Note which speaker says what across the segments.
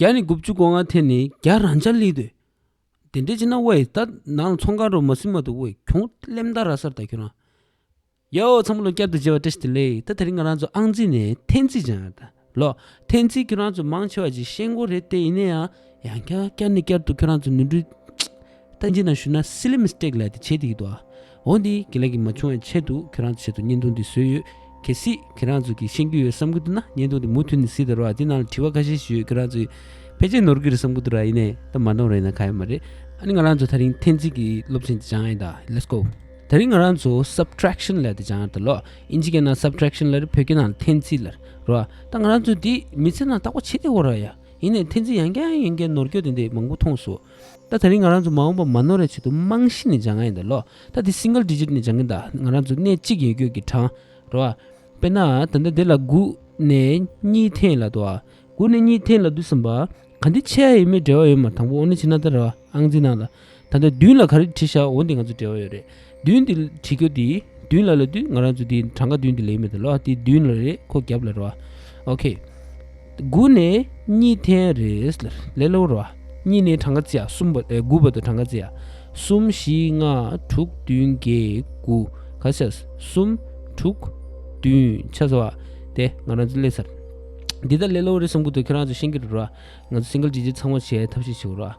Speaker 1: བརྒྱ་ནི་དགུ་བཅུ་གོ་ལྔ་ཐེ་ནི་བརྒྱ་རང་འཆར་ལི་དོད། དེ་འདྲའི་ཕྱི་ནང་དབའ་ཡི་དག་ནང་ཚོང་ཁང་རོ་མ་སིལ་མ་དུ་དབའ་ཡི་གྱོང་སླེམ་དག་ར་སར་དག་ཁྱོད་རང། ཡའོ་ཚང་མ་ལོ་བསྐྱར་དུ་མཇལ་བ་བཀྲ་ཤིས་བདེ་ལེགས་ད་དེ་རིང་ང་རང་ཚོ་ཨང་རྩིས་ནས་ཐེན་རྩིས་སྦྱང་ཡག་དང་ལོ་ཐེན་རྩིས་ཁྱོད་རང་ཚོ་མང་ཆེ་བ་ཅིག་ཤེས་མགོ་རེད་དེ་ཡིན་ན་ཡང་ཡང་བསྐྱར་བསྐྱར་ནས་བསྐྱར་དུ་ཁྱོད་རང་ཚོ་ནུས་འདྲུ་ལྟ་ཅི་ན་ཞུ་ན Silly mistake ལས་དེ་བྱེད་དེ་ཡི་འདུག་ཨ། འོ་འདི་གི་ལས་ཀྱི་མ་བྱུང་བའི་ཆེད་དུ་ཁྱེད་རང་ཚོའི་ཆེད་དུ་བརྙན་ཐུང་འདི་བཟོས་ཡོད། གལ་སྲིད་ཁྱེད་རང་ཚོ་གིས་ཤེས་རྒྱུ་ཡོད་བསམ་གི་འདུག་ན་བརྙན་ཐུང་འདི་མུ་མཐུད་ནས་གཟིགས་དང་རོགས་ཨ་འདི་ནང་ལ་དྲི་བ་ཁ་ཤས་ཞིག་ཡོད་ཁྱེད་རང་ཚོས་ཕལ་ཆེར་ནོར་གི་རེད་བསམ་གི་འདུག་ར་ཡིན་ནའི་ད་མ་འདོང་ར་ཡིན་ན་ཁག་ཡོད་མ་རེད་ཨ་ནི་ང་རང་ཚོ་ཐག་རིང་ཐེན་ཚིག་གི་སློབ་ཆེན་དེ་སྦྱང་ཨེ་ད Let's go ད་རིང་ང་རང་ཚོ Subtraction ལས་དེ་སྦྱང་ཨ་ད་ལོ་ཨིན་ཇི་གའི་ནང Subtraction ལ་རེད་བོད་སྐད་ནང་ཐེན་ཚིག་ལ་རོགས་ཨ་ད་ང་རང་ཚོ་འདི་མི་ཚེ་ནང་བརྟག་པ་བྱེད་དེ་འོ་ར་ཡ་ཡིན་ནའི་ཐེན་ཚིག་ཡང་སྐྱར་ཡང་ཡིན་སྐད་ནོར་སྐྱོ་དེ་འདི་མང་པོ་མཐོང་སོ་ད་ད་རིང་ང་རང་ཚོ་མ་འོངས་པར་མ་ནོར་རེ་བྱེད་དུ་རྨང་གཞི་ནས་སྦྱང་ག་ཡིན་ད་ལོ་ད་དེ single digit ནས་སྦྱང་གིན་ད་ང་རང་ཚོ་གནས་གཅིག་ཡོད་སྐྱོད་ཀྱི་གྲང་རོ་ཨ། དཔེར་ན་ད་ལྟ་དེ་ལ་དགུ་ནས་གཉིས་ཐེངས་ལ་དུ་ཨ། དགུ་ནས་གཉིས་ཐེངས་ལ་དུ་བསམ་པ། ག་འདི་ཆེ་ཨ་ཡིན་མོད་འབྲེལ་བ་ཡོད་མ་དང་པོ་ཨོ་ནི་ཆེ་ན་ད་ར་ཨང་རྩིས་གནང་ལ། ད་ལྟ་བདུན་ལ་ག་རེ་བྲིས་ཤག་འོ་འདི་ང་ཚོ་འབྲེལ་བ་ཡོད་རེད། བདུན་དེ་བྲིས་ཁོ་དེས་བདུན་ལ་ལ་དུས་ང་རང་ཚོ་དེ་གྲངས་ཀ་བདུན་དེ་ལེན་མི་ཐུབ་ལོ་དེ་བདུན་ལ་རེད་ཁོ་རྒྱབ་ལ་རོ་ཨོ་ཁེ། དགུ་ནས་གཉིས་ཐེན་རེད་ལ་ལས་ལོ་རོ་ཨ་གཉིས་ནས་གྲངས་ཀ་བརྩི་ཨ་གསུམ་པ་དགུ་པ་དང་གྲངས་ཀ་བརྩི་ཨ་གསུམ་བཞི་ལྔ་དྲུག་བདུན་བརྒྱད་དགུ་ག་ཚད་གསུམ་དྲུག་བདུན་ཆ་ཟ་བ་དེ་ང་རང་ཚོ་ལས་ཚར་འདི་ད་ལས་ལོ་རེད་གསུམ་གོ་དེ་ཁྱེད་རང་ཚོ་ཤེས་ཀྱི་རེད་རོ་ཨ་ང་ཚོ་སིང་གལ་ཇི་བྱེད་ཚང་མ་བྱེད་ཐབས་ཤེས་བྱོས་རོ་ཨ།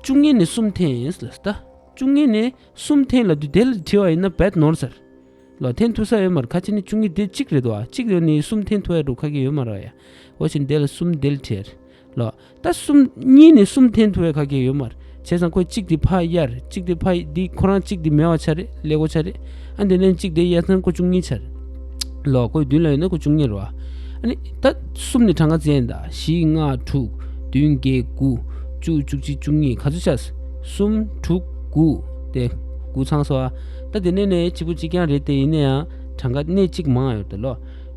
Speaker 1: བཅུ་གཉིས་ནི་སུམ་འཐེན་ལ་བལྟ། བཅུ་གཉིས་ནི་སུམ་འཐེན་ལ་བསྡུ་དེ་ལ་བྲི་བ་ཡིན་ན་བད་ནོར་ཟེར། ལོ་འཐེན་ཐུ་ས་ཡོད་མར་ཁ་ཆེ་ནི་བཅུ་གཉིས་དེ་གཅིག་རེད་བ་གཅིག་ཡོད་ནི་སུམ་འཐེན་ཐུ་ཡ་དྲུག་ཁ་གེ་ཡོད་མ་ར་ཡ། འོ་ཞིན་དེ་ལ་སུམ་དེ་ལ་བྲི་ཡར། ལོ། ད་སུམ་གཉིས་ནི་སུམ་འཐེན་ཐུ་ཡ་ཁ་གེ་ཡོད་མར་བྱས་ཙང་ཁོ་གཅིག་དེ་ཕ་ཡར་གཅིག་དེ་ཕ་ཡི་འདི་ཁོ་རང་གཅིག་དེ་མེ་བ་ཆ་རེད་ལེ་གོ་ཆ་རེད། ཨ་འདི་ནི་གཅིག་བདེ་གཡས་མཚམས་སྐོར་བཅུ་གཉིས་ཆར། ལོག་སྐོར་བདུན་ལ་ཡོད་ན་སྐོར་བཅུ་གཉིས་རོ། ད་གསུམ་ནི་གྲངས་ཀ་ཅན་དང་བཞི་ལྔ་དྲུག་བདུན་བརྒྱད་དགུ་བཅུ་བཅུ་གཅིག་བཅུ་གཉིས་ག་ཚོད་ཆ། གསུམ་དྲུག་དགུ་སྟེ་དགུ་ཚང་སོ། ད་དེ་ནས་ནི་གཅིག་པོ་གཅིག་རྐྱང་རེད་དེ་ཡིན་ན་ཡང་གྲངས་ཀ་གནས་གཅིག་མང་ཡོད་དོ་ལོ།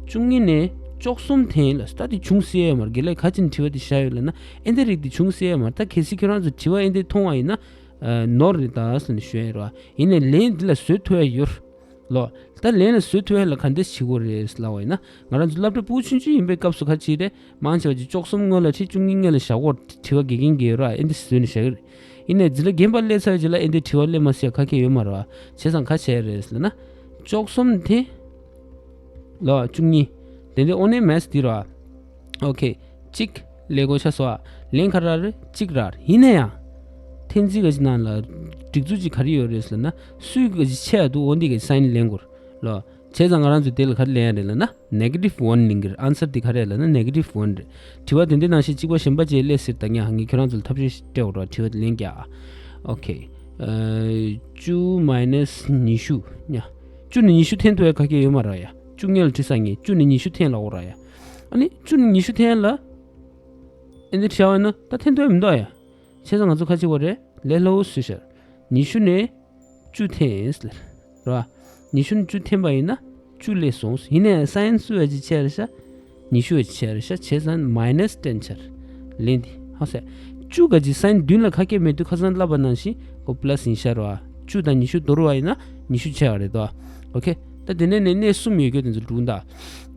Speaker 1: བཅུ་གཉིས་ནི་ཅོག་གསུམ་དེ་ཡིན་ལ་ད་དེ་ཅུང་ཟད་ཡོད་མར་དགེ་ལེགས་ག་ཅིག་ནས་བྲིས་པ་དེ་བཞག་ཡོད་ལ་ན་ཨེ་འདི་རིགས་དེ་ཅུང་ཟད་ཡོད་མར་ད་གལ་སྲིད་ཁྱོད་རང་ཚོས་བྲིས་བ་ཨེ་འདི་མཐོང་བ་ཡིན་ན། ནོར་རེད་ད་ཟེར་ནས་ཞུས་རེད་ཡིན་ནས་ལན་འདི་ལ་བཟོད་ཐུ་ཨེ་ཡོད་ལོད་ད་ལན་ལ་བཟོད་ཐུ་ཨེ་ལ་ག་འདི་བྱེད་དགོས་རེད་ཟེར་ལ་བ་ཡིན་ན་ང་རང་ཚོ་བླ་བྲེ་པུའུ་ཆུང་ཆུང་ཡིན་པའི་སྐབས་སུ་ཁ་ཆེའི་རེ་མང་ཆེ་བ་ཆེ་ཅོག་གསུམ་སྔོན་ལ་ཁྲི་བཅུ་གཉིས་ལྔས་ལ་བཞག་སྒོར་དྲི་བ་དགེ་རྒན་དགེ་ཡོད་ར་ཨེ་འདི་བཟོས་ནས་བཞག་གི་རེད་ཡིན་ནས་འདི་ལ་རྒན་པ་སླེ་ཚར་རྗེས་ལ་ཨེ་འདི་དྲི་བ་སླེ་མ་སྲིད་ཡ་ཁ་ཁྱེད་ཡོད་མ་ར་བ་བྱས་སམ་ག་བྱས་རེད་ཟེར་ལ་ན་ཅོག་གསུམ་དེ་ལ་བཅུ་གཉིས་དེ་འདི་ཨོ་ནེ་མས་འདི་ར། ཨོ་ཁེ། གཅིག། ལས་བགོ་བྱ་སོགས་ལན་ཁ་རར་གཅིག་རར་ཡིན་ན་ཡང། ཐེན་ཙི་ག་ཅི་ནང་ལ། སྒྲིག་འཛུགས་ཅིག་ག་རེ་ཡོད་རེད་ཟེར་ན། སུའི་ག་ཅི་ཆད་འདུག་འོ་འདི་ག་ཅི་སང་ཉིན་ལན་དགོས་ལོ། བྱས་ཙང་ང་རང་ཚོས་དེ་ལ་ག་རེ་ལན་ཡ་རེད་ལ་ན། Negative One ལིང་གིར Answer དེ་ག་རེད་ལ་ན Negative One རེད། དྲི་བ་དེ་འདི་ནང་བཞིན་གཅིག་པ་གཞན་པ་བཅས་སླད་ཟེར་ད་ཉག་ངས་ཁྱོད་རང་ཚོ་ལ་ཐབས་ཤེས་ཤིག་སྤྲད་འོར་བ་དྲི་བ་དེ་ལན་བརྒྱ། ཨོ་ཁེ། བཅུ Minus ཉི་ཤུ། བཅུ་ནས་ཉི་ཤུ་ཐེན་དུ་ཡ་ག་སྐད་ཡོད་མ་ར་ཡ། བཅུ་ལྔལ་ཁྲི་ས་ངས་བཅུ་ནས་ཉི་ཤུ་ཐེན་ལ་འོར་ར་ཡ། ཨཱ་ནི་བཅུ་ནི་ཉི་ཤུ་ཐན་ལ། ཨཱ་འདི་བྱ་བ་ནི་ད་ཐན་ཐོན་མི་འདོག་ཡ། བྱས་ཙང་ང་ཚོ་ཁ་ཅིག་བོ་རེ་ལས་སླ་བོ་སུས་ཤར། ཉི་ཤུ་ནས་བཅུ་ཐན་ལ། ར། ཉི་ཤུ་ནས་བཅུ་ཐན་པ་ཡིན་ན་བཅུ་ལས་སོང་ཡིན་ནའི་སཱ་ཨན་སུ་ཝེ་ཅི་ཆེ་རེ་ཤ། ཉི་ཤུ་ཝེ་ཅི་ཆེ་རེ་ཤ་བྱས་ཙང་མཱིནས་སྟན་ཆར། ལན་འདི་ཧ་སེ། བཅུ་ག་ཅིག་སཱ་ཨན་བདུན་ལ་ཁ་སྐད་མེད་དུས་ཁ་སང་བསླབ་པ་ནང་བཞིན་གོ་བསླད་ཟིན་ཤར་བ། བཅུ་དང་ཉི་ཤུ་དོར་བ་ཡིན་ན་ཉི་ཤུ་ཆེ་བ་རེད་དོ། ཨོ་ཁེ། ད་དེ་ནས་ནས་གནས་གསུམ་ཡོད་རྒྱུ་དེ་ཚོ་འགྲུག་འདའ།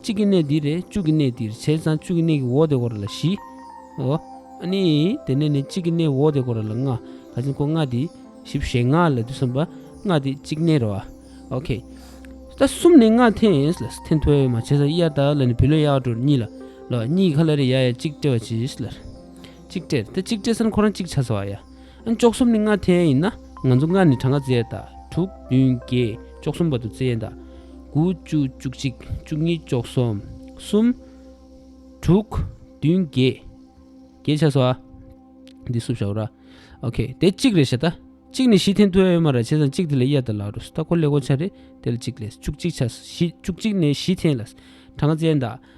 Speaker 1: གཅིག་གི་གནས་འདིར་རེ་བཅུ་གི་གནས་འདིར་བྱས་ཙང་བཅུ་གི་གནས་ཀྱི་འོག་དེ་གོ་ར་ལ་བཞི། ཨོ། ཨ་ནི། དེ་ནས་ནི་གཅིག་གི་གནས་འོག་དེ་གོ་ར་ལ་ལྔ། ག་ཅིག་གོ་ལྔ་དེ་བཞི་བྱས་ལྔ་ལ་དུ་སོན་པ་ལྔ་དེ་གཅིག་གནས་རོ། ཨོ་ཁེ། ད་གསུམ་ནི་ལྔ་འཐེན་ཨེ་ལ་འཐེན་ཐོ་ཨེ་མ་བྱས་ཙང་དབྱར་དག་ལ་ནི་བུ་ལོན་གཡག་དྲོར་གཉིས་ལ། ལོ་གཉིས་ཀྱི་ཁ་ལ་རེ་ཡ་ཡ་གཅིག་སྤྲད་པ་བྱས་ཨེ་ལ། གཅིག་སྤྲད་ད་གཅིག་སྤྲད་ས་ནི་ཁོ་རང་གཅིག་ཆ་ཚ་བ་ཡ། ཅོག་གསུམ་ནི་ལྔ་ཐན་ཡིན་ན་ང་ཚོ་སྔར་ནི་གྲངས་ཀ་བརྩེགས་དང་དྲུག་བདུན་བརྒྱད་ཅོག་གསུམ་བར་དུ་བརྩེགས་དང། དགུ་བཅུ་བཅུ་གཅིག་བཅུ་གཉིས་ཅོག་གསུམ་གསུམ། དྲུག་བདུན་བརྒྱད་བརྒྱད་ཆ་སོ་ཨ། འདི་བསུབ་བྱ་ར། ཨོ་ཁེ་དེ་གཅིག་རེད་བྱ་ད། གཅིག་ནི་བཞི་ཐན་དུ་ཨེ་ཡོད་མ་ར་བྱས་ཙང་གཅིག་དེ་ལས་གཡར་ད་ལགས་རུས་ད་གོ་ལེ་གོ་ཆ་རེད་དེ་ལ་གཅིག་ལས་བཅུ་གཅིག་ཆ་བཞི་བཅུ་གཅིག་ནས་བཞི་ཐན་ལ་གྲངས་ཀ་བརྩེགས་དང།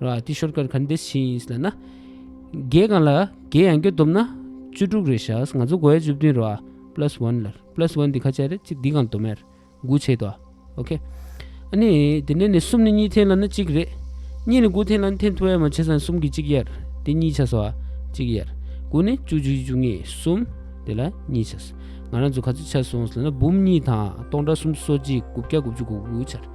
Speaker 1: ལ་ཏི་ཤོར་ཀར་གྷན་དེ་ཤི་ཡིན་ལ་ན། རྒྱས་གང་ལ་རྒྱས་ཡང་རྒྱོ་བསྡོམས་ན། བཅུ་དྲུག་རེ་ཤཱས་ང་ཚོ་གོ་ཡ་བཅུ་བདུན་རོ་ཨ plus one ལར plus one དེ་ཁ་ཆད་རེད་ཅིག་འདི་གང་དོ་མེར་དགུ་བྱེད་དོ་ཨ ok ཨ་ནི་དེ་ནས་ནི་གསུམ་ནི་གཉིས་འཐེན་ལ་ན་གཅིག་རེད་གཉིས་ནི་དགུ་འཐེན་ལ་ན་འཐེན་ཐུ་ཡ་མ་བྱེད་སང་གསུམ་གྱི་གཅིག་ཡར་དེ་གཉིས་ཆ་སོ་ཨ་གཅིག་ཡར་དགུ་ནི་བཅུ་བཅུ་ཡི་བཅུ་གཉིས་གསུམ་དེ་ལ་གཉིས་ཆ་ང་རང་ཚོ་ག་ཚོད་ཆ་སོང་ལ་ན་འབུམ་གཉིས་དང་སྟོང་དྲག་གསུམ་སོ་གཅིག་དགུ་བརྒྱ་དགུ་བཅུ་དགུ་དགུ་ཆར་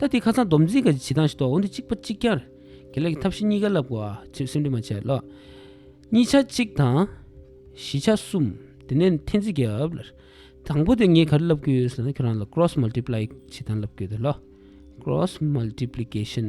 Speaker 1: ལྟ་དེ་ཁ་ཚང་སྡོམ་རྩིས་ཀྱི་བྱེད་སྟངས་ཤིག་ཏུ་འོང་དུས་གཅིག་པ་གཅིག་ཀྱང་དགེ་ལེགས་ཀྱི་ཐབས་ཤེས་གཉིས་ཀ་བསླབ་དགོས་སེམས་འདུན་མ་བྱས་ལོ། གཉིས་ཆ་གཅིག་དང། བཞི་ཆ་གསུམ། དེ་ནས་འཐེན་རྩིས་རྒྱབ། དང་པོ་དེ་ངས་ག་རེ་བསླབ་དགོས་ཟེར་ན་ཁྱོད་རང་ལ Cross Multiply བྱེད་སྟངས་བསླབ་དགོས་ལོ། Cross Multiplication།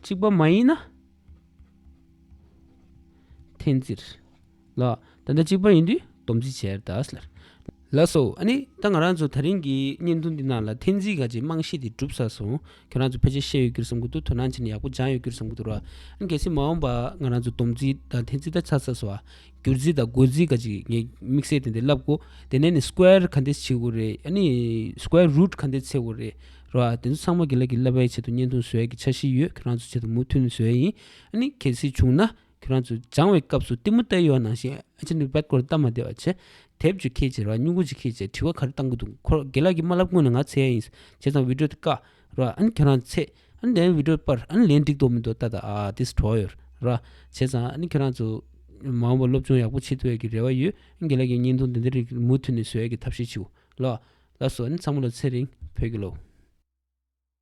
Speaker 1: གཅིག་པ་མ་ཡིན་ན། འཐེན་ཙིར། ལ། ད་ལྟ་གཅིག་པ་ཡིན་དུས་སྡོམ་ཚིག་བྱེར་ད་ལ། ལ་སོ། ཨ་ནི། ད་ང་རང་ཚོ་ད་རིང་གི་བརྙན་ཐུང་འདི་ནང་ལ་འཐེན་ཙིའི་ག་ཅིག་རྨང་གཞི་དེ་གྲུབ་ས་སོང། ཁྱོད་རང་ཚོ་ཕལ་ཆེར་ཤེས་ཡོད་གྱུར་བསམ་གྱི་འདུག་དོ་སྣང་བྱས་ནས་ཡག་པོ་སྦྱངས་ཡོད་གྱུར་བསམ་གྱི་འདུག་ར། ཨ་ནི་གལ་སྲིད་མ་འོངས་པ་ང་རང་ཚོ་སྡོམ་ཚིག་དང་འཐེན་ཙིར་ད་ཆ་ས་སོ། བསྒྱུར་རྩིས་དང་བགོད་རྩིས་འགའ་ཅིག་ངས་དམིགས་བསལ་དེ་འདི་བསླབ་གོ། དེ་ནས་ནི square ག་འདི་བྱེད་དགོས་རེད་ཨ་ནི square root ག་འདི་ཚེག་དགོས་རེད་ར་བ། དེ་ཚོ་ཚང་མ་དགེ་ལེགས་ཀྱི་བསླབ་པའི་ཆེད་དུ་བརྙན་ཐུང་བཟོས་ཀྱི་ཆ་བཞི་ཡོད་ཁྱོད་རང་ཚོ་ཆེད་དུ་མུ་མཐུད་ནས་བཟོས་ཡིན་ཨ་ནི་གལ་སྲིད་བྱུང་ན་ཁྱོད་རང་ཚོས་སྦྱང་བའི་སྐབས་སུ་གཏི་མུག་ལྟ་ཡོད་ནང་བཞིན་ཨ་ཅེ་འདི་བལ་སྐོར་བལྟ་མ་བདེ་བ་ཆེ། དེབ་ཅིག་ཁེལ་བྱས་ར་བ་སྨྱུ་གུ་ཅིག་ཁེལ་བྱས་དྲི་བ་ག་རེ་བཏང་གི་འདུག་ཁོ་ར་དགེ་ལགས་ཀྱིས་མ་བསླབ་སྔོན་ནས་ང་ཚེ་ཡ་ཡིན། བྱས་ཙང་བིད་ཀྲོ་དེ་བཀག་ར་བ་ཨ་ནི་ཁྱོད་རང་ཚོས་ཚེ། ལན་འི་འགྲོས་པར་ལན་འགྲིག་འདོག་མི་འདོག་ཏ་ཏ་ཨ Destroyer ར་བྱས་ཙང་ཁྱེད་རང་ཚོ་མ་འོངས་པར་སློབ་སྦྱོང་ཡག་པོ་བྱེད་ཐུབ་ཡག་གི་རེ་བ་ཡོད་དགེ་ལགས་ཀྱི་བརྙན་ཐུང་འདི་འདྲ་རིགས་མུ་མཐུད་ནས་བཟོ་ཡག་གི་ཐབས་ཤེས་བྱིའོ་ལགས། ལ་སོགས་ཚང་མ་ལ་ཚེ་རིང་བོད་ཀྱི་སློབ།